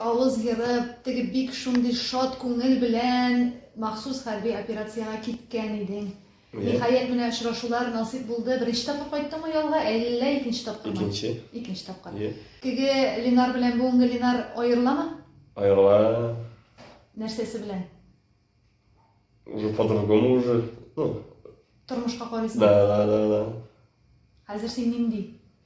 Авыз ерып, теге бик шундый шат күңел белән махсус хәрби операциягә киткән идең. Ниһаять, менә очрашулар насыйп булды. Беренче тапкыр кайттыңмы ялга, әллә икенче тапкырмы? Икенче. Икенче тапкыр. Ие. Теге Ленар белән бүгенге Ленар аерыламы? Аерыла. Нәрсәсе белән? Уже по-другому уже, ну. Тормышка карыйсың? Да, да, да, да. Хәзер син нинди?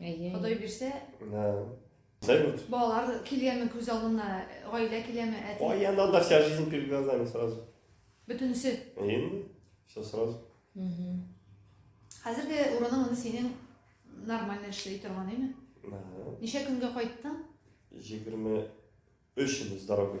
Әйе. Ходай бирсә. Да. Салют. Балалар килгәнме күз алдына, гаилә киләме, әти? Ой, я надо вся жизнь перед глазами сразу. Бөтенесе. Әйе. Все сразу. Угу. Хәзер дә урының аны синең нормально эшли торган, әйме? Да. Ничә көнгә кайттың? 23 ел с дорогой.